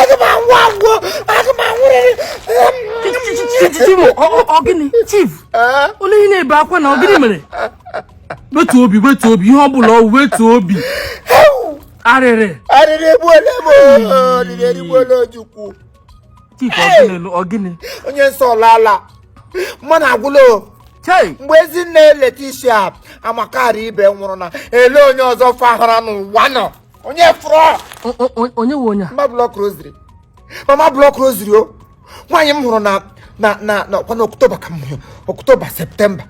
aga m anwụ anwụ aga m anwụrịrị ọ gịnị chief onye ihe na-ebe akwa na ọ gịnị mere wetu obi wetu obi ihe ọ bụla ọ wetu obi arịrị arịrị egbuola m arịrị erigbuola ojukwu chief ọ gịnị ọ gịnị onye nsọ alaala mmanụ agwụla mgbe ezinne Leticia amakarị ibe nwụrụ na ele onye ọzọ fahara n'ụwa nọ onye fụrụ onye nwe onye mama block rosary mama block rosary o nwaanyị m hụrụ na na na na ọkwa na October ka m hụrụ October September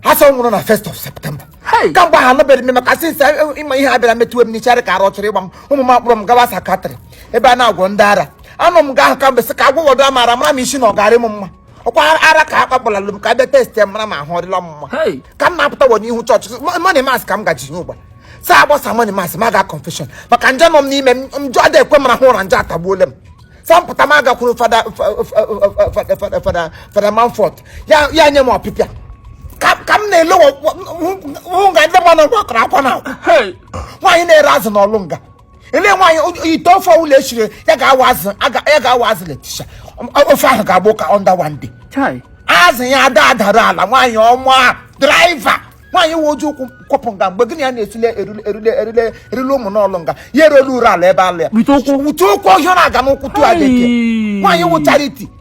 a sị ọ nwụrụ na first of September kamgbe ha anụbeghị m maka since e, e, ịma ihe a bịara metụwe m n'ishi dị ka ara chọrọ ịgba m ụmụ m akpọrọ m gawa psychiatric ebe a na-agwọ ndị ara anọ m nga ahụ kamgbe sị ka agwọwọdụ m ara mara m isi na ọ ga-adị m mma ọkwa ara ka akpakpọlalụ m ka abịa testie mara ma ahụ ọdịla mma ka m na-apụta wọ n'ihu chọọchị morning mass ka m gaji ihe ụgba sa agbasa morning mass m a ga confession maka njọ nọ m n'ime m njọ adị ekwe m arahụ ụra njọ atagbuole m sa mpụta m agakwuru fada fada fada Montfort ya nye m ọpịpịa ka m na-ele hụ nga ndị mmadụ gbakọrọ ọkwa na nwaanyị na-ere azụ n'ọlụ nga ele nwaanyị ite ofe ọwụla eshiri ya ga-awa azụ ya ga-awa azụ Leticia ofe ahụ ga-agba ụka under one day azụ ya ada adara ala nwaanyị ọma driver nwaanyị wụ Ojukwu kwọpụ nga mgbe gịnị ya na-esile erule erule erule erule Ụmụna Ọlụ nga ya erelu Urualla ebe ala ya wute ụkwụ ọhịa na-aga n'ụkwụ tụọ adịke nwaanyị wụ charity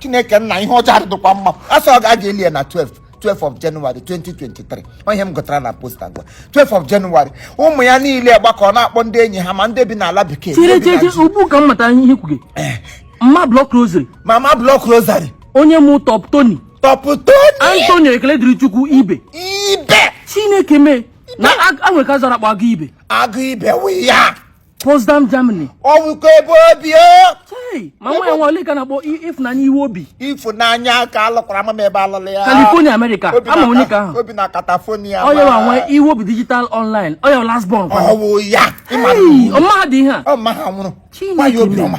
chineke nna ihe ọjọọ adịdịkwa mma a sị a ga-aga eli ya na 12 12 of January 2023 ọ ihe m gụtara na poster gwa 12 of January ụmụ ya niile gbakọ na-akpọ ndị enyi ha ma ndị bi n'ala bekee chere chere ugbu ka m matara ihe ị kwuge eh. mama block rosary mama block rosary onye mụ top tony top tony antonio ekele dịrị chukwu ibe ibe chineke mee na nwoke a zara akpa agụ ibe agụ ibe wụ ya Potsdam Germany ọ wụkwa ebe o bi o Hey, ma nwa ya nwa ole ka na-akpọ i- ịfụnanya iwe obi ifunanya ka alụkwara mama ebe alụlụ ya California America Obi ama na- onye ka ahụ o bi na California ọ ya nwe iwe obi digital online ọ ya wụ last born kwa ọwụ ya ịma na Hey, iwu. ọma ha dị ihe a ọ ma ha nwụrụ Chineke nwaanyị obi m. ọma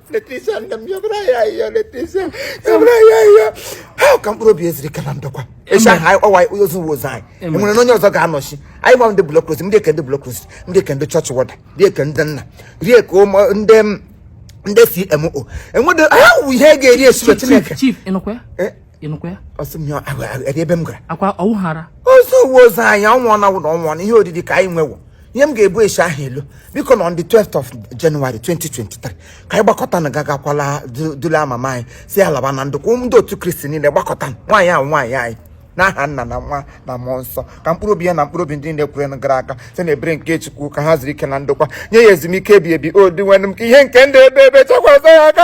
Leticia nne m yọbara ya yọ Leticia yọbara ya yọ ha ka mkpụrụ obi eziri ka na ndokwa echi ahụ anyị kpọwa anyị ozu wụ ozu anyị enwere na onye ọzọ ga-anọchi anyị gwa ndị block rosary ndị eke ndị block rosary ndị eke ndị chọọchị wọda ndị eke ndị nna rie ka ụmụ ndị m ndị CMO enwedo ha wụ ihe e ga-eri esibe chineke chief ịnụkwa ya Eh, ịnụkwa ya ọsị m ya ahụ ahụ eri ebe m gara akwa ọwụghara ozu wụ ozu anyị ọnwụọ na wụna ọnwụọ na ihe oriri ka anyị nwewo ihe m ga-ebu esi ahụ elu biko na on the 12th of January 2023 ka anyị gbakọtanụ gaa gakwa dulaa mama anyị si alaba na ndụkwa ndị otu kristi niile gbakọta nwaanyị ahụ nwaanyị anyị n'aha nna na nwa na mmụọ nsọ ka mkpụrụ obi ya na mkpụrụ obi ndị niile kwerenụ gara aga site na ebere nke chukwu ka ha zuru ike na ndokwa nye ya ezumike ebi ebi o dinwenụ m ka ihe nke ndụ ebe ebe chakwasa ya aka